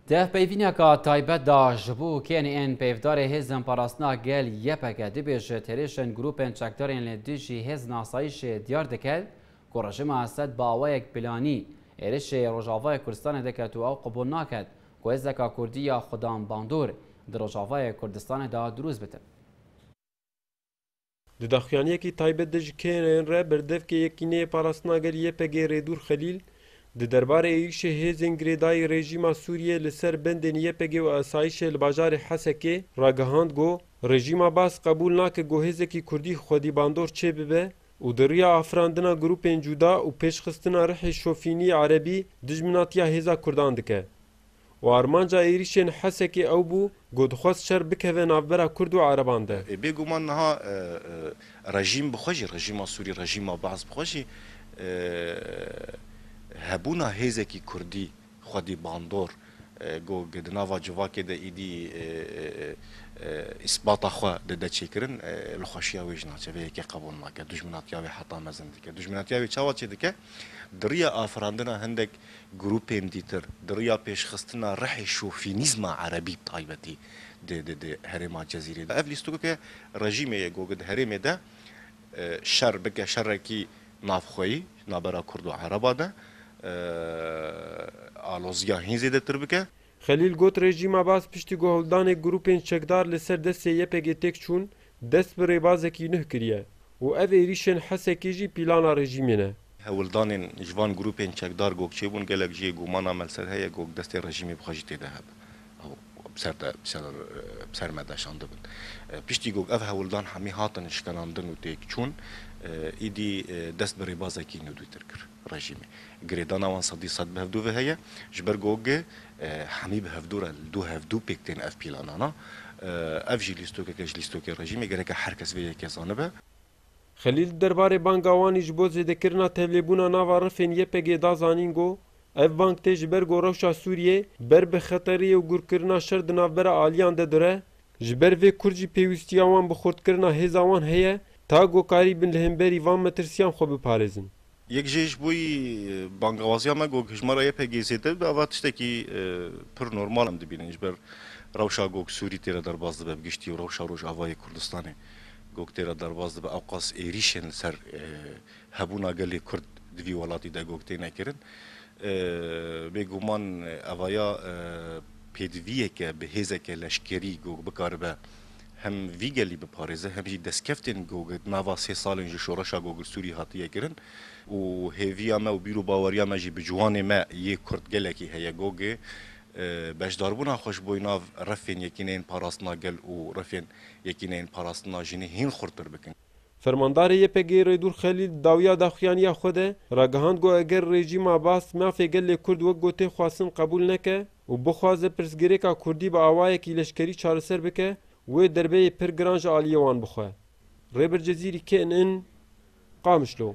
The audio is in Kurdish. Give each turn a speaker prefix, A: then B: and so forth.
A: Di peyvîneka taybet de ji bo kênê ên peyvdarê Hêzên Parastina Gel, ypg, dibêjit, Hêrişên grûpên çekdarên li dijî hêzên asayîşê diyar dike ku rejîma Esed bi awayek planî êrişê Rojavayê Kurdistanê diket û ew qebûl naket ku hêzeka kurdî ya Xudan Bandor di Rojavayê Kurdistanê de drûst bitin.
B: Di daxuyaniyekî taybet de ji KNY'ên re berdevkê Yekîneyê Parastina Gel, YPG, Rêdûr Xelîl, di derbarê êrîşê hêzên girêdayî rejîma Sûriyê li ser bendên YPG û asayîşê li bajarê Hesekê, ragihand got, Rejîma Baas qebûl nake ku hêzekî Kurdî xwedî bandor çêbibe û di riya afirandina grûpên cuda û pêşxistina rihê şofînî erebî dijminatiya hêza Kurdan dike. Û armanca êrîşên Hesekê ew bû ku dixwest şer bikeve navbera Kurd û Ereban de. Bêguman niha
C: rejîm bi xwe jî, rejîma Sûrî, rejîma Baas bi xwe jî hebûna hêzekî Kurdî xwedî bandor ku di nava civakê de êdî îsbata xwe dide çêkirin, li xweşiya wê ji navçe vê yekê qebûl nake. Dujminatiya wê heta mezin dike. Dujminatiya wê çawa çêdike? Di riya afirandina hindek Grûpên dîtir di riya pêşxistina rihê şofînîzma erebî bi taybetî di herêma Cezîrê de ev lîstikokê rejîmê yê got di herêmê de şer bike şerekî navxweyî navbera kurd û ereba de alozîya hîn zêdetir bike. Xelîl got rejîma
B: Baas piştî ku hildanê grûpên çekdar li ser destê YPG'ê têk çûn, dest bi rêbazekî nuh kiriye û ev êrîşên Hesekê jî plana rejîmê ne. Hewldanên
C: ji van grûpên çekdar gog çêbûn, gelek jê gumana me li ser heye ku destê rejîmê bi xwe jî tê de hebe û bi ser de bi ser me de şandibin. Piştî ku ev hewldan hemî hatin şikanandin û têk çûn, îdî dest bi rêbazekî nûdûtir kir. rejîmê. Girêdana wan sedî sed bi hevdû ve heye. Ji ber ku gi hemî bi hevdû re li dû hevdû pêk tên ev pîlanana. Ev jî lîstokeke ji lîstokê rejîmê gereke her kes vê yekê zanibe. Xelîl di
B: derbarê banga Wanî ji bo zêdekirina tevlêbûna nava rifên YPG'ê da zanîn ku ev bang tê ji ber ku rewşa Sûriyê ber bi xeterê ye û gurkirina şer di navbera aliyan de dire, ji ber vê kurd jî pêwîstiya wan bi xurtkirina hêza wan heye ta ku karî bin li hemberî van metirsiyan xwe biparêzin. Yek jê ji bo
C: bangewaziya me ku hejmara YPG zêde bibe ava tiştekî pir normal em dibînin. Ji ber rewşa ku Sûrî tê re derbas dibe bi giştî û rewşa Rojavayê Kurdistanê ku tê re derbas dibe ewqas êrîşên li ser hebûna gelê Kurd di vî welatî de ku têne kirin bêguman eva ya pêdiviyeke bi hêzeke leşkerî ku bikaribe Hem vî gelî biparêze hem jî destkeftên ku di nava sê salên ji şoreşa Gogilsûrî hatiye kirin û hêviya me û bîr û baweriya me jî bi ciwanê me yê kurd gelekî heye ku beşdarbûna xwe ji bo nav refên Yekîneyên Parastina Gel û refên Yekîneyên Parastina Jinê hîn xurttir bikin. Fermandarê
B: YPG'ê Rêdûr Xelîl di dawiya daxuyaniya xwe de ragihand ku eger rejîma Bath mafê gelê Kurd wek gotê xwestin qebûl neke û bixwaze pirsgirêka Kurdî bi awayekî leşkerî çareser bike, wê derbeyê pir giran ji aliyê wan bixwe. Rêbir Cezîrî KNN, Qamişlo.